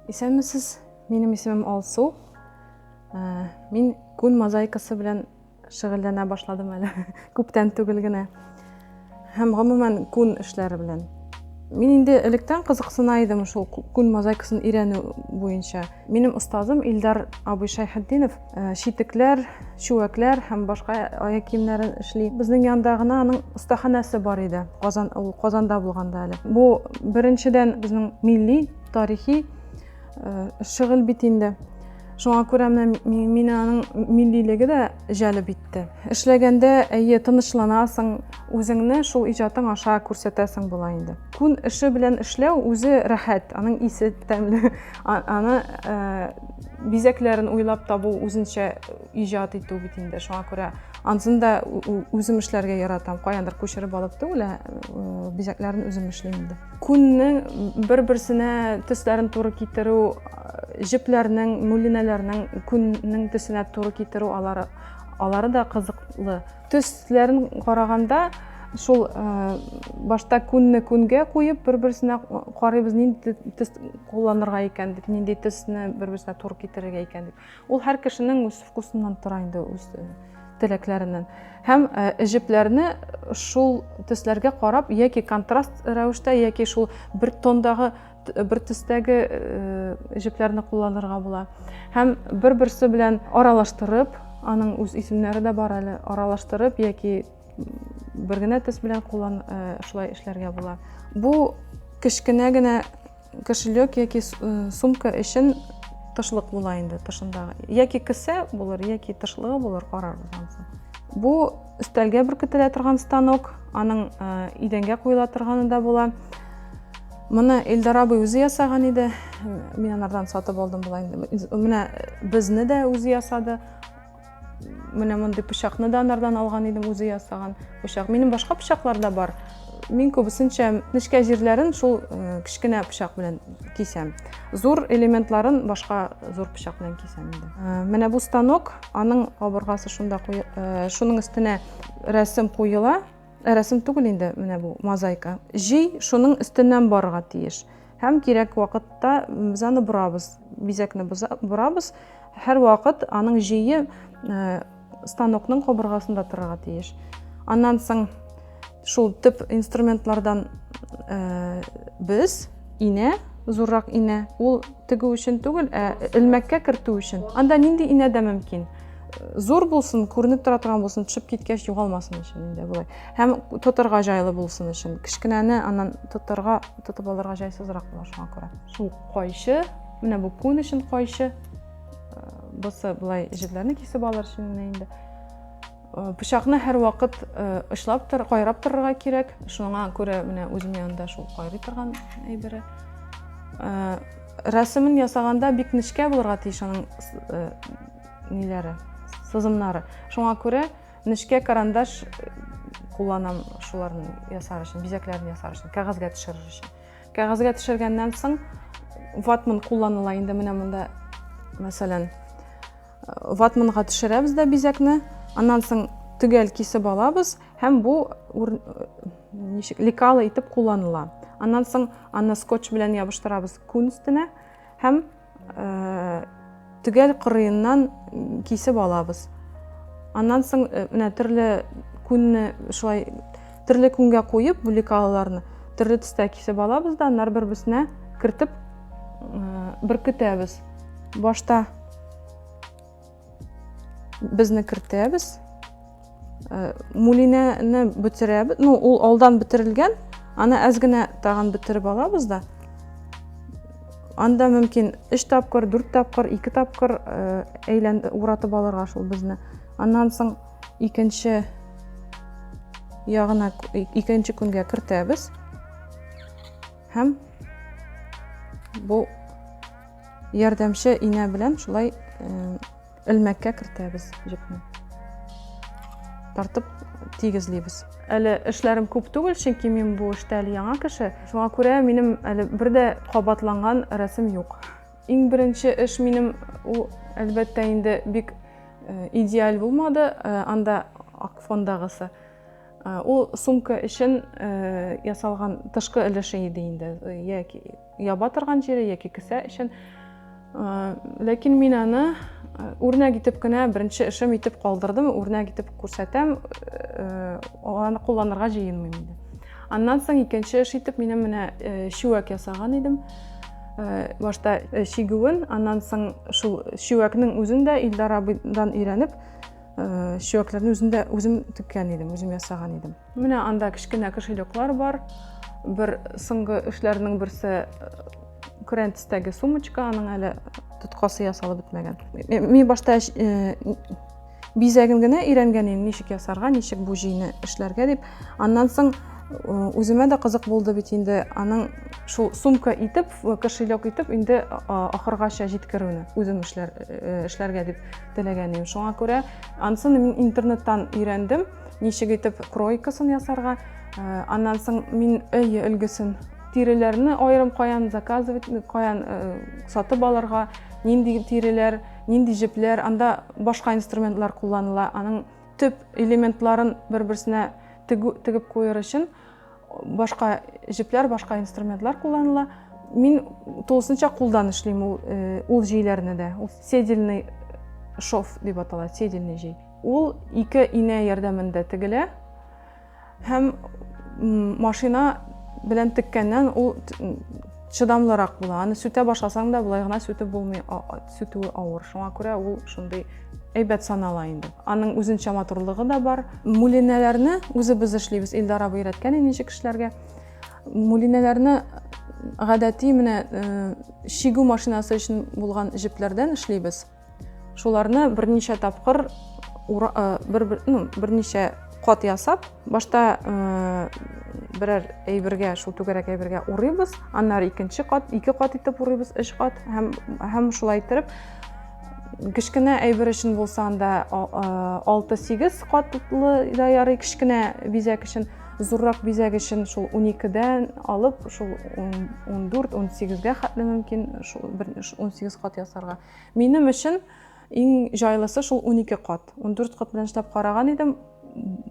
Исәнмесез, минем исемем Алсу. Ә, мин күн мозаикасы белән шөгыльләнә башладым әле, күптән түгел генә. Һәм гомумән күн эшләре белән. Мин инде электән кызыксына идем шул күн мозаикасын өйрәнү буенча. Минем остазым Илдар абый Шайхетдинов э, читекләр, чүәкләр һәм башка аяк киемнәрен эшли. Безнең янда гына аның остаханәсе бар иде. Казан ул Казанда булганда әле. Бу беренчедән безнең милли, тарихи э, шөгыль бит инде. Шуңа күрә менә мине аның миллилеге дә җәлеп итте. Эшләгәндә әйе тынычланасың, үзеңне шул иҗатың аша күрсәтәсең була инде. Күн эше белән эшләү үзе рәхәт, аның исе тәмле. Аны бизәкләрен уйлап табу үзенчә иҗат итү бит инде. Шуңа күрә ансын да үзем эшләргә яратам. Каяндыр күчереп алып түгел, ә бизәкләрен үзем эшлим инде. Күннең бер-берсенә төсләрен туры китерү, җепләрнең, мүлинәләрнең күннең төсенә туры китерү алары алары да кызыклы. Төсләрен караганда, шул башта күнне күнгә куеп, бер-берсенә карыйбыз, нинди төс кулланырга икән дип, нинди төсне бер-берсенә туры китерергә икән дип. Ул һәр кешенең үз вкусыннан тора инде, үз теләкләреннән. Һәм җепләрне шул төсләргә карап, яки контраст рәвештә, яки шул бер тондагы бер төстәге җепләрне кулланырга була. Һәм бер-берсе белән аралаштырып, аның үз исемнәре дә бар әле, аралаштырып яки бер генә төс белән куллан шулай эшләргә була. Бу кечкенә генә кошелек яки сумка өчен тышлык була инде тышындагы. Яки кесә булыр, яки тышлыгы булыр, карарбыз анысы. Бу Өстәлгә бүркетелә торган станок, аның идәнгә куела торганы да була. Моны Эльдар абый үзе ясаган иде. Мин анардан сатып алдым була инде. Менә безне дә үзе ясады. Менә мондый пычакны да анардан алган идем, үзе ясаган пычак. Минем башка пычаклар да бар. Мин күбесенчә нечкә җирләрен шул э, кечкенә пычак белән кисәм. Зур элементларын башка зур пычак белән кисәм инде. Э, менә бу станок аның кабыргасы шунда куе, э, шуның өстенә рәсем куела рәсем түгел инде менә бу мозаика җөй шуның өстеннән барырга тиеш һәм кирәк вакытта без аны борабыз бизәкне борабыз һәр вакыт аның җөе э, станокның кабыргасында торырга тиеш аннан соң Шул төп инструментлардан э, без инә, зуррак инә, ул тегү өчен түгел, ә элмәккә кертү өчен. Анда нинди инә дә мөмкин? зур булсын, күренеп тора торган булсын, төшеп киткәч югалмасын өчен инде болай. Һәм тотырга жайлы булсын өчен. Кечкенәне аннан тотырга, тотып алырга жайсызрак була шуңа күрә. Шул кайчы, менә бу күн өчен кайчы. Э, Бусы болай җепләрне кисеп алыр өчен инде. Пычакны һәрвакыт очлап тор, кайрап торырга кирәк. Шуңа күрә менә үзем янында шул кайрый торган әйбере. Рәсемен ясаганда бик нечкә булырга тиеш аның ниләре, сызымнары. Шуңа күрә нечкә карандаш кулланам шуларны ясар өчен, бизәкләрне ясар өчен, кәгазьгә төшерер өчен. Кәгазьгә төшергәннән соң ватман кулланыла инде менә монда, мәсәлән, Ватманга төшерәбез дә бизәкне. Аннан соң төгәл кисеп алабыз һәм бу ничек лекала итеп кулланыла. Аннан соң аны скотч белән ябыштырабыз күн өстенә һәм төгәл кырыеннан кисеп алабыз. Аннан соң менә төрле күнне шулай төрле күнгә куеп бу лекалаларны төрле төстә кисеп алабыз да, аннары бер-берсенә кертеп беркетәбез. Башта Безне кертәбез. Э, Мулинәне бетерәбез. Ну, ул алдан бетерелгән. Аны әз генә тагын бетереп алабыз да. Анда мөмкин 3 тапкыр, 4 тапкыр, 2 тапкыр э, әйлән уратып алырга шул безне. Аннан соң икенче ягына икенче күнгә кертәбез. Һәм бу ярдәмче инә белән шулай элмәккә э, кертәбез җепне. Тартып тигезлибез. Әле эшләрем күп түгел, чөнки мин бу эштә әле яңа кеше. Шуңа күрә минем әле бер дә кабатланган рәсем юк. Иң беренче эш минем ул әлбәттә инде бик э, идеаль булмады, э, анда ак фондагысы. Ул сумка өчен ясалган тышкы өлеше иде инде. Яки яба торган җире, яки кесә өчен. Ләкин мин аны үрнәк итеп кенә беренче эшем итеп калдырдым. Үрнәк итеп күрсәтәм, аны кулланырга җыенмыйм инде. Аннан соң икенче эш итеп минем менә чүәк ясаган идем. Башта чигүен, аннан соң шул чүәкнең үзен дә Илдар абыйдан өйрәнеп, Сөякләрне үземдә үзем теккән идем, үзем ясаган идем. Менә анда кечкенә кошелеклар бар. Бер соңгы эшләрнең берсе Күрәнтистәге сумочка, аның әле тоткасы ясалып бетмәгән. Мин башта бизәген генә өйрәнгән идем, ничек ясарга, ничек бу җыйны эшләргә дип. Аннан соң үземә дә кызык булды бит инде аның шул сумка итеп кошелек итеп инде ахыргача җиткерүне үзем эшләр эшләргә дип теләгән идем. Шуңа күрә ансын мин интернеттан өйрәндем, ничек итеп кройкасын ясарга. Э, аннан соң мин өй өлгесен тиреләрне аерым каян заказывать, каян э, сатып алырга, нинди тиреләр, нинди җепләр, анда башка инструментлар кулланыла. Аның төп элементларын бер-берсенә тегеп куер өчен Башка җепләр, башка инструментлар кулланыла. Мин тулысынча кулдан эшлим ул, э, ул җейләрне дә. Ул седельный шов дип атала, седельный җей. Ул ике инә ярдәмендә тегелә һәм машина белән теккәннән ул чыдамлырак була. Аны сүтә башласаң да, болай гына сүтеп булмый. сүтүе авыр. Шуңа күрә ул шундый әйбәт санала инде. Аның үзенчә матурлыгы да бар. Мүлинәләрне үзебез эшлибез. Илдар абый өйрәткән ничек эшләргә. Мүлинәләрне гадәти менә э, шигү машинасы өчен булган җепләрдән эшлибез. Шуларны берничә тапкыр э, бер, бер, ну, берничә Кат ясап, башта берәр әйбергә, шул түгәрәк әйбергә урыйбыз, аннары икенче кат, ике кат итеп урыйбыз, өч кат һәм һәм шулай итеп кечкенә әйбер өчен булса анда 6-8 катлы да ярый кечкенә бизәк өчен, зуррак бизәк өчен шул 12-дән алып шул 14-18-гә хәтле мөмкин, шул 18 кат ясарга. Минем өчен Иң җайлысы шул унике кат. Ундүрт кат белән чыдап караган идем,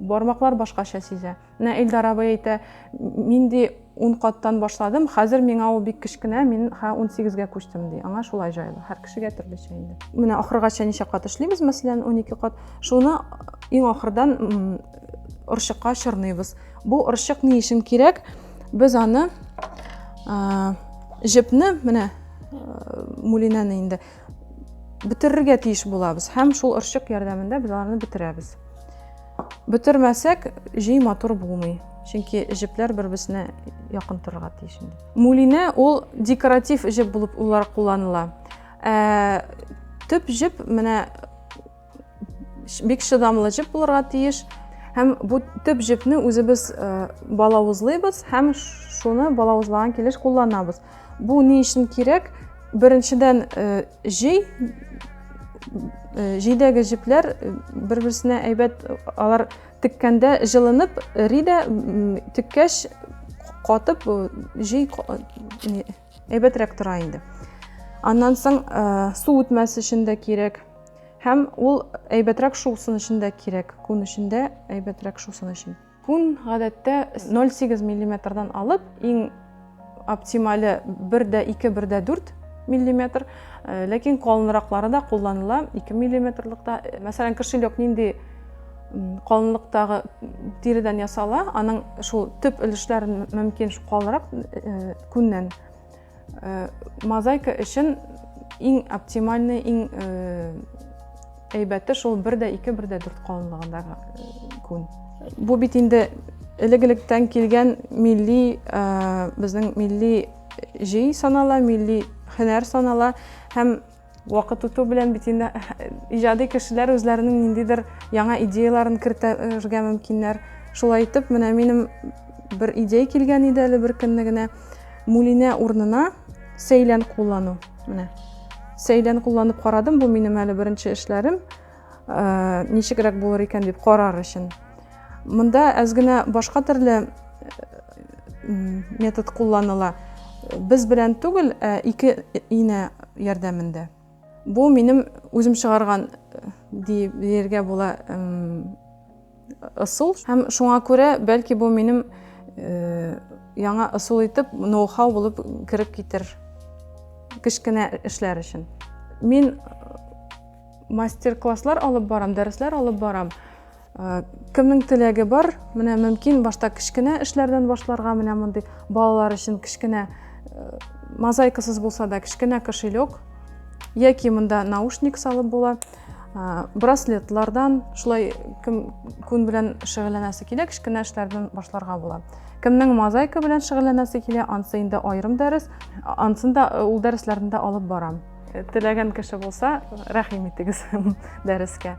бармаклар башкача сизә. Менә Илдар абый әйтә, мин ди ун каттан башладым, хәзер миңа ул бик кечкенә, мин хә унсигезгә күчтем ди. Аңа шулай җайлы. Һәр кешегә төрлечә инде. Менә ахыргача ничә кат эшлибез, мәсәлән, унике кат. Шуны иң ахырдан орчыкка чорныйбыз. Бу орчык ни өчен кирәк? Без аны җепне, менә мулинәне инде, бетерергә тиеш булабыз һәм шул орчык ярдәмендә без аларны бетерәбез бөтермәсәк җөй матур булмый чөнки җепләр бер берсенә якын торырга тиеш инде мулинә ул декоратив җеп булып улар кулланыла ә, төп җеп менә бик чыдамлы җеп булырга тиеш һәм бу төп җепне үзебез э, балавызлыйбыз һәм шуны балавызлаган килеш кулланабыз бу ни өчен кирәк беренчедән э, җей э, җейдәге җепләр бер берсенә әйбәт алар теккәндә җылынып эри дә теккәч катып җей Әйбәтрәк тора инде. Аннан соң э, су үтмәс өчен дә кирәк. Һәм ул әйбәтрәк шусын өчен дә кирәк. Күн өчен дә әйбәтрәк шусын өчен. Күн гадәттә 0,8 миллиметрдан алып, иң оптимале 1 дә 2, 1 дә 4 миллиметр. Э, ләкин калынраклары да кулланыла 2 миллиметрлыкта. Э, мәсәлән, кошелек нинди калынлыктагы тиридән ясала, аның шул төп өлешләрен мөмкин калынрак э, Күннән. Мозаика өчен иң оптимальный, иң әйбәте шул бер дә ике, бер дә дүрт калынлыгындагы күн. Бу бит инде элек-электән килгән милли, безнең милли җый санала, милли һөнәр санала һәм Вакыт үтү белән бит инде иҗади кешеләр үзләренең ниндидер яңа идеяларын кертергә мөмкиннәр. Шулай итеп, менә минем бер идея килгән иде әле бер көнне генә. Мулинә урнына сәйлән куллану. Менә. Сәйлән кулланып карадым, бу минем әле беренче эшләрем. э, ничегрәк булыр икән дип карар өчен. Монда әз генә башка төрле э, метод кулланыла. Без белән түгел, ә ике ине ярдәмендә. Бу минем үзем чыгарган дип диергә була ысул һәм шуңа күрә бәлки бу минем э, яңа ысул итеп ноу-хау булып кереп китер кечкенә эшләр өчен мин э, мастер класслар алып барам дәресләр алып барам э, кемнең теләге бар менә мөмкин башта кечкенә эшләрдән башларга менә мондый балалар өчен кечкенә мозаикасыз булса да кечкенә кошелек яки монда наушник салып була браслетлардан шулай кем күн белән шөгыльләнәсе килә кечкенә эшләрдән башларга була кемнең мозаика белән шөгыльләнәсе килә ансы инде аерым дәрес ансын да э, ул дәресләрне дә алып барам э, теләгән кеше булса рәхим итегез дәрескә